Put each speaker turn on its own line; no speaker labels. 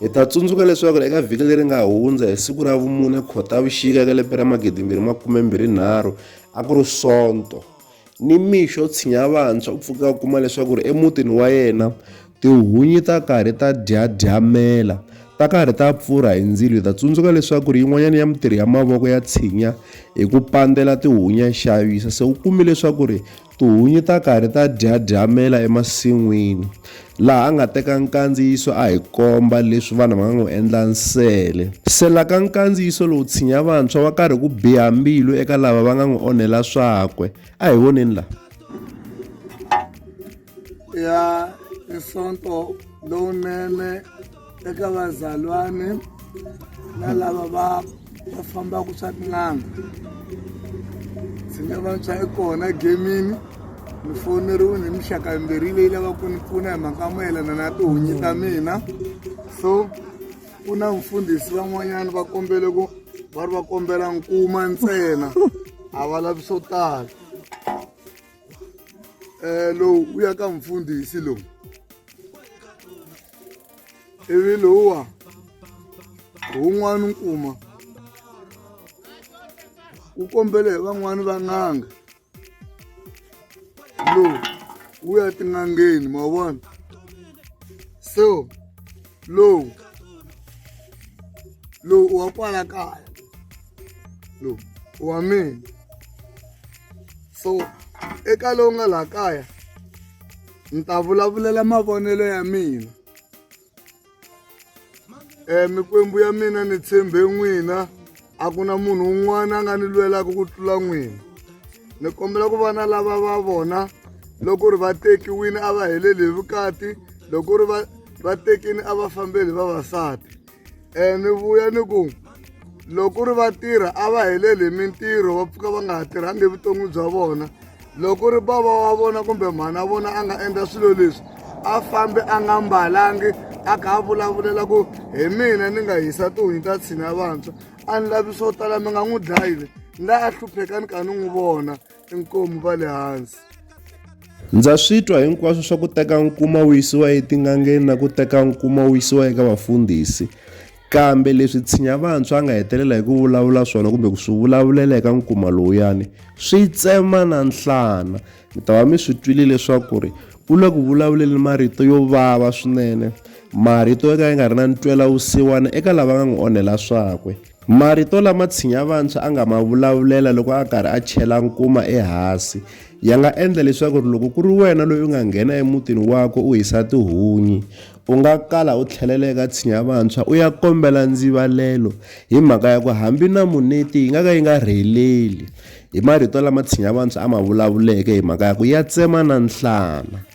Hi ta tsundzuka leswaku eka vhiki leri nga hundza hi siku ra vumune Khotavuxika eka lembe ra 2023 a ku ri Sonto, ni mixo tshinya vantshwa u pfuke a kuma leswaku ri emutini wa yena tihunyi ta karhi ta dyadyamela, ta karhi ta pfurha hi ndzilo. Hi ta tsundzuka leswaku ri yin'wanyana ya mitirhi ya mavoko ya tshinya hi ku pandzela tihunyi ya xavisa, se u kume leswaku ri Tihunyi ta karhi ta dyadyamela emasin'wini. Laha a nga teka nkandziyiso a hi komba leswi vanhu va nga n'wi endla nsele. Sela ka nkandziyiso lowu tshinya vantshwa wa karhi ku biha mbilu eka lava va nga n'wi onhela swakwe. A hi voneni laha.
Ya nsonto lowunene. eka vazalwane na lava va va fambaka swa tin'anga ndzi nga vantshwa i kona gemini ni foneriwe ni mixaka yimbirhi leyi lavaka ku ni pfuna hi mhaka mayelana na tihunyi ta mina so ku na mfundhisi van'wanyana va kombele ku va ri va kombela nkuma ntsena a va lavi swo tala eh, lowu wu ya ka mfundhisi lowu ivi lowuwa wun'wana nkuma wu kombele hi van'wani va n'anga lowu wu ya tin'angeni ma vona so lowu lowu wa kwala kaya lowu wa mina so eka lowu nga laha kaya ni ta vulavulela mavonelo ya mina um mikwembu ya mina ni tshembe n'wina a ku na munhu un'wana a nga ni lwelaka ku tlula n'wina ni kombela ku vana lava va vona loko ri va tekiwini a va heleli hi vukati loko ri va va tekini a va fambeli vavasati um ni vuya ni ku loko ku ri vatirha a va heleli hi mintirho va pfuka va nga ha tirhangi evuton'wini bya vona loko ku ri bava wa vona kumbe mhana wa vona a nga endla swilo leswi a fambi a nga mbalangi a kha a vulavulela ku hi mina ni nga hisa tihunyi ta tshina vantshwa a ni lavi swo tala mi nga n'wi dlayile la a hlupheka ni kha ni n'wi vona inkomu va le hansi ndza
swi twa hinkwaswo swa ku teka nkuma wu yisiwa etin'angeni na ku teka nkuma wu yisiwa eka vafundhisi kambe leswi tshinya vantshwa a nga hetelela hi ku vulavula swona kumbe ku swi vulavulela eka nkuma lowuyani swi tsema na nhlana mi ta va mi swi twile leswaku ri u le ku vulavuleni marito yo vava swinene marito yo ka ya nga ri na ntwela wusiwana eka lava nga n'wi onhela swakwe Marito lama Tshinyavantshwa a nga ma vulavulela loko a karhi a chela nkuma ehasi ya nga endla leswaku loko ku ri wena loyi u nga nghena emutini wakwe u hisa tihunyi, u nga kala u tlhelela eka Tshinyavantshwa u ya kombela ndzivalelo hi mhaka ya ku hambi na muneti yi nga ka yi nga rheleli. I marito lama Tshinyavantshwa a ma vulavuleke hi mhaka ya ku ya tsema na nhlana.